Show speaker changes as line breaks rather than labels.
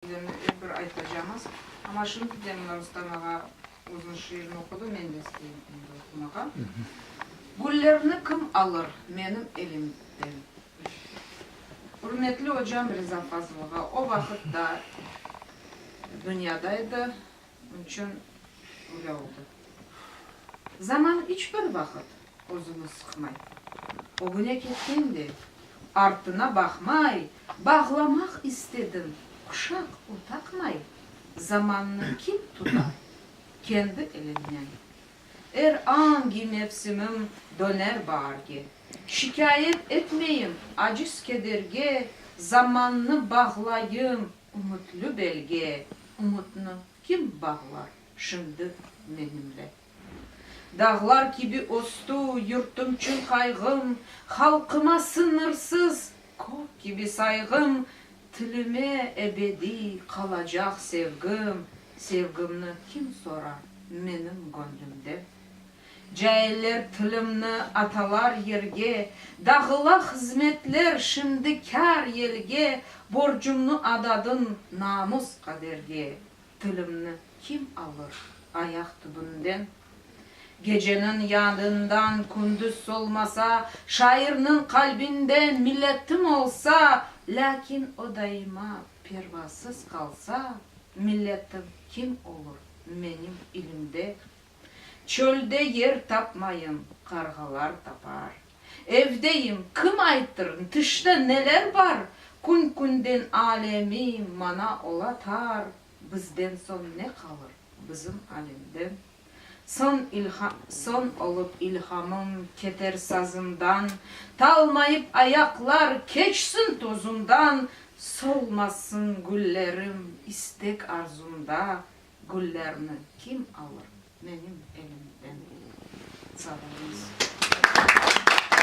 Dem ep bir aytacamız. Amma şimdi de mına Rustam ağa özüniñ şiirini oqudı, men de isteyim endi oqumağa. Güllerni kim alır menim elimden? Ürmetli ocam Riza Fazılova o vaqıt da dünyadaydı. Bunçün böyle oldı. Zaman iç bir vaqıt özüni sıqmay. Ögüne ketken de, artına baqmay, bağlamaq istedim, quşaq u taqmay. Zamannı kim tuta? Kendi eliginen. Er angi mevsimim döner baarge. Şikâyet etmeyim, aciz kederge, zamannı bağlayım. Ümütli belge, ümütni kim bağlar şimdi menimle? Dağlar kibi östü yurtum çün qayğım, halqıma sıñırsız kök kibi sayğım, tilime ebediy qalacaq sevgim, sevgimni kim sorar menim göñlümden? Cailler tilimni atalar yerge, Dağıla hızmetler şimdi kâr yelge, Borcumnı adadım namus qaderge, Tilimni kim alır ayaq tübünden? Geceniñ yadından kündüz solmasa, Şairniñ qalbinde milletim olsa, Lâkin o daima pervasız qalsa, Milletim kim olur menim ilimde? Çölde yer tapmayım, qarğalar tapar. Evdeyim, kim aytır, tışta neler bar? Kün-künden alemi mana ola tar, Bizden soñ ne qalır, bizim alemden? Son olıp ilhamım, keter sazımdan, Talmayıp ayaqlar, keçsin tozumdan, Solmasın güllerim, istek-arzumda, Güllerni kim alır menim elimden? Sağ olunız.